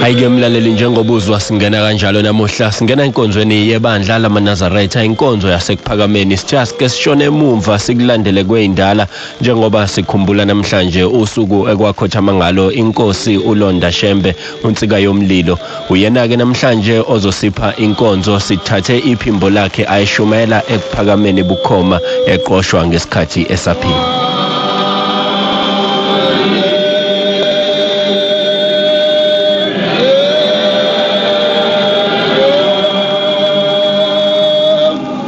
Hayike mlaleli njengoba uzwa singena kanjalo namuhla singena enkonzweni yebandla lamaNazaretha inkonzo yasekuphakameni sithiya sike sishone emumva sikulandele kweyindala njengoba sikhumbula namhlanje usuku ekwakhothama ngalo inkosi uLonda Shembe unsika yomlilo Uyena-ke namhlanje ozosipha inkonzo sithathe iphimbo lakhe ayishumayela ekuphakameni bukhoma eqoshwa ngesikhathi esaphila.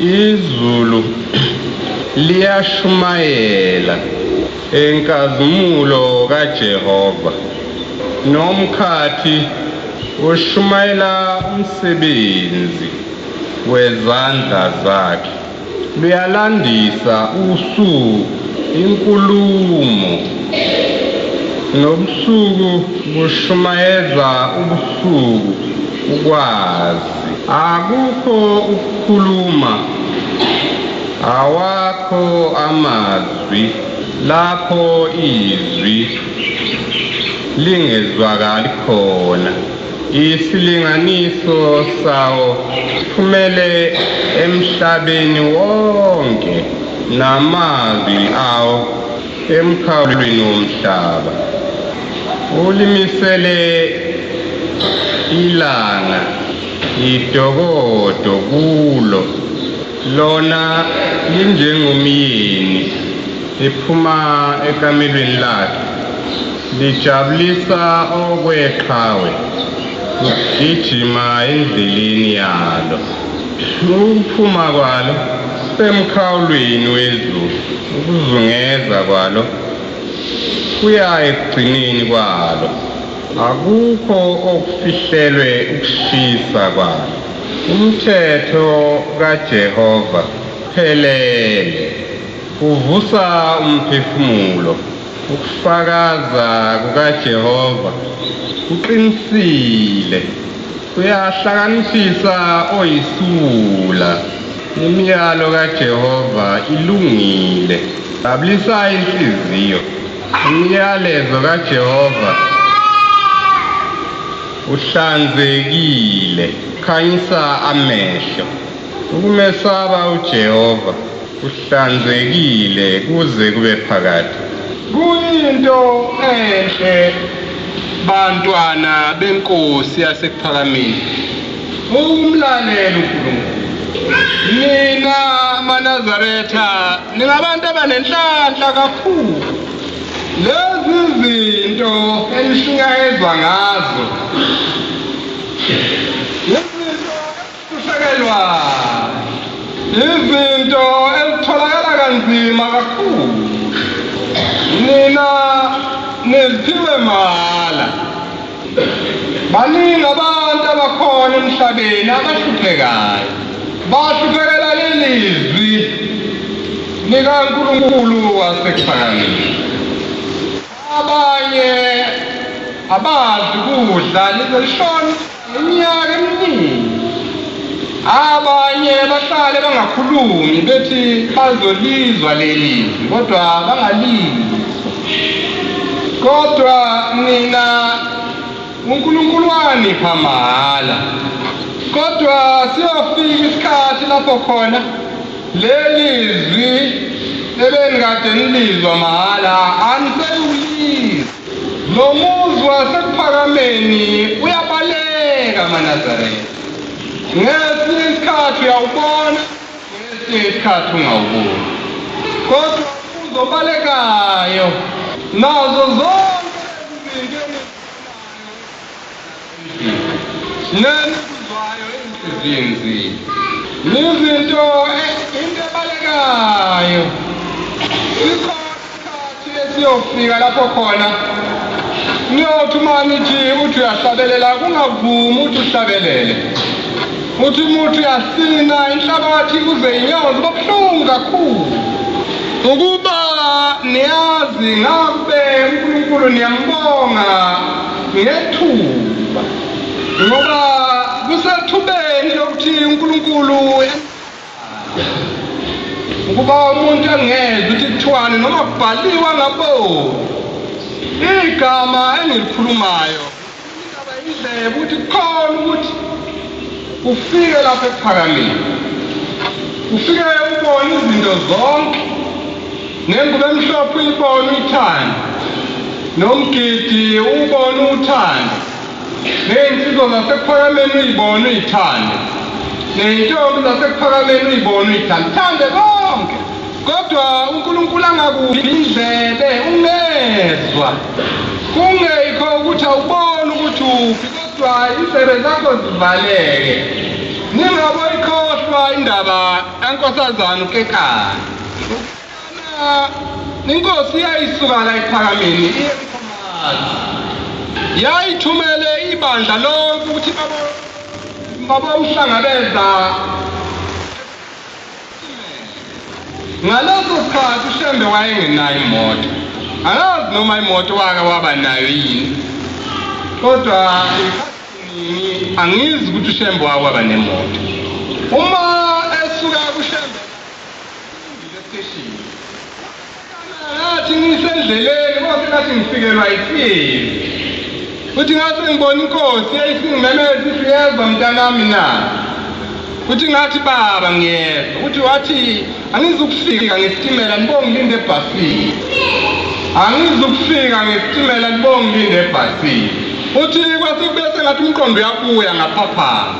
Izulu liyashumayela enkazimulo kaJehova. Nomkhathi ushumayela umsebenzi wezandla zakhe. Luyalandisa usu inkulumo, nobusuku bushumayeza ubusuku ukwazi. Akukho ukukhuluma, awakho amazwi lapho izwi lingezwakali khona. Isilinganiso sawo siphumele emhlabeni wonke namazwi awo. emkhawulweni womhlaba ulimisele ilanga idokodo kulo lona linjengomyeni ephuma ekamelweni lakhe lijabulisa okweqhawe ugijima endleleni yalo ukuphuma kwalo emkhawulweni wezulu Ukuzungeza kwalo kuya ekugcineni kwalo. Akukho okufihlelwe ukushisa kwalo. Umthetho kaJehova uphelele, uvusa umphefumulo. Ukufakaza kukaJehova kuqinisile. Uyahlakaniphisa oyisiwula. Imiyalo kaJehova ilungile. Babulisa inhliziyo. Umyalezo kaJehova uhlanzekile, khanyisa amehlo. Ukumesaba uJehova Kuhlanzekile kuze kube phakade. Kuyinto enhle bantwana benkosi yasekuphakameni ukumlalela uNkulunkulu. Nina maNazaretha ningabantu abanenhlanhla kakhulu. Lezi zinto enishunyayezwa ngazo Kusekelwa izinto ezitholakala kanzima kakhulu. Nina niziphiwe mahhala. Baningi abantu abakhona emhlabeni abahluphekayo. Bahluphekela lelizwi likaNkulunkulu wasekuphakamiwe. Abanye abazi kudla lize lishone. Iminyaka eminingi abanye bahlale bangakhulumi bethi bazolizwa leli kodwa bangalizwa. Kodwa nina uNkulunkulu wanipha mahhala. Kodwa siyofika isikhathi lapho khona leli zwi ebenikade nilizwa mahhala anisekulizwa. Lo muzi wasekuphakameni uyabaleka amaNazaretha. Ngesinye isikhathi uyawubona, ngesinye isikhathi ungawuboni. Kodwa umbuzo obalekayo, nazo zonke lezi zinto engizibonayo Nenikuzwayo izinzi yizinto into ebalekayo. Sikhona isikhathi esiyofika lapho khona niyothi uma nithi uthi uyahlabelela kungavumi ukuthi uhlabelele. Uthi umuthi uyasina inhlabathi kuze inyozi babuhlungu kakhulu. Ukuba niyazi ngabe uNkulunkulu niyambonga ngethuba ngoba kusethubeni lokuthi uNkulunkulu ukuba umuntu angezwa ukuthi kuthiwani noma kubhaliwa ngaboni igama engilikhulumayo indaba indlebe ukuthi kukhona ukuthi ufike lapho ekuphakamile ufike ubone izinto zonke Nengubo emhlophe uyibona uyithanda, nomgidi uwubona uwuthande, neyinsizwa zasekuphakameni uyibona uyithande, neyintombi zasekuphakameni uyibona uyithande. Thande konke, kodwa uNkulunkulu angakuphi indlebe ungezwa. Kungekho ukuthi awuboni ukuthi uphi, kodwa indlebe zakho zivaleke. Ningaboyikhohlwa indaba kaNkosazana uKekana. Inkosi yayisuka la ephakameni iye eMkhomani. Yayithumele ibandla lonke ukuthi babowuhlangabeza Ngaleso sikhathi uShembe wayengenayo imoto. Angazi noma imoto wake waba nayo yini. Kodwa angizi ukuthi uShembe wake waba nemoto. Uma Ngathi ngisendleleni konke ngathi ngifikelwa yisimo futhi ngathi ngibona inkosi eyisingimemeza ukuthi uyezwa mntanami na futhi ngathi baba ngiyezwa ukuthi wathi angizukufika ngesitimela nibongilinde ebhasini angizukufika ngesitimela nibongilinde ebhasini futhi kwase kube sengathi umqondo uyabuya ngaphaphama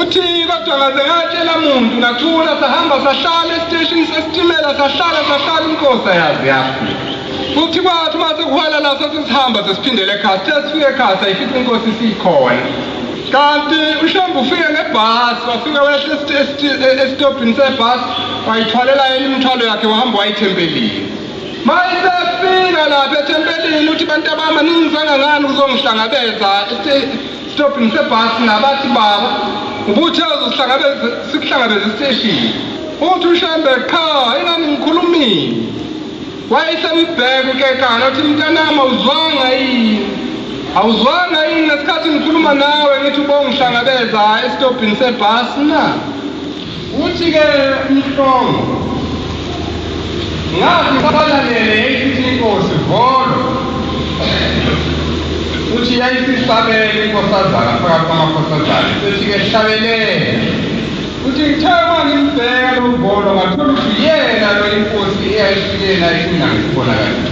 Uthi kodwa ngaze ngatshela muntu ngathula sahamba sahlala esiteshini sesitimela sahlala sahlala inkosi ayazi yafika. Futhi kwathi uma sekuhwala la sasihamba sesiphindele ekhaya sithe sifike ekhaya sayifica inkosi isikhona. Kanti uShambu ufike ngebhasi wafika wehle esitobhini sebhasi wayithwalela yena imithwalo yakhe wahamba wayithempelile. Mayisefika lapha ethempelini uthi bantu abama ningizanga ngani kuzongihlangabeza Stop ngisebhasi nabathi baba ubuthe uzohlangabeza sikuhlangabeza esiteshini. Uthi uShembe qha ingani ngikhulumile. Wayesembheka uKekana uthi mntanami awuzwanga yini? Awuzwanga yini ngesikhathi ngikhuluma nawe ngithi ubongihlangabeza esitobhini sebhasi na? Uthi ke uMhlongo ngathi ngibalalele yayisithi inkosi volo uthi yayisisabele inkosazana phakathi kwamakhosazane sethi ke hlabelele uthi ngithe uma ngimbheka lo volo ngathola ukuthi yena lo inkosi eyayifike naye kunangisibonakala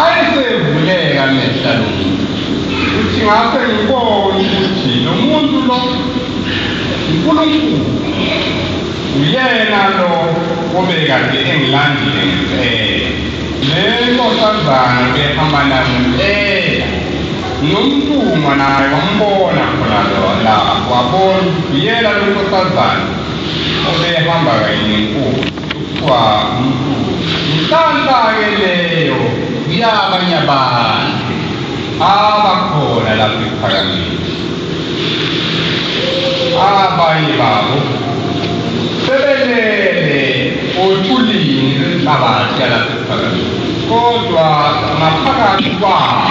Ayesevuleka amehla lo muntu ukuthi ngase ngibone ukuthi lo muntu lo uNkulunkulu uyena lo obekade engilandile ngempela. Le nkosazana ubehamba nayo ngempela nomntungwa naye wambona khona lapho wabona uyena lo nkosazana obehamba kanye nenkulu. Kuthiwa umlungu. Inhlanhla-ke leyo kuyabanye abantu abakhona lapha ePhakamithi. Abanye babo sebelele othulini lwenhlabathi yalapha ePhakamithi, kodwa ngaphakathi kwabo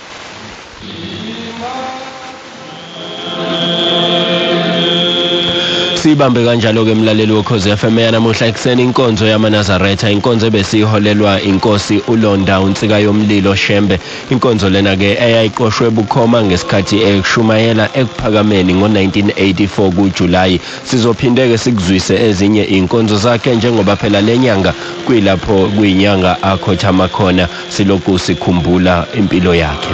siyibambe kanjalo-ke mlaleli wokhozi FM yanamuhla ekuseni inkonzo yamanazaretha inkonzo ebesiyiholelwa inkosi ulonda unsika yomlilo shembe inkonzo lena-ke eyayiqoshwe bukhoma ngesikhathi ekushumayela ekuphakameni ngo-1984 kujulayi sizophinde-ke sikuzwise ezinye iy'nkonzo zakhe njengoba phela le nyanga kuyilapho kuyinyanga akhothama khona siloku sikhumbula impilo yakhe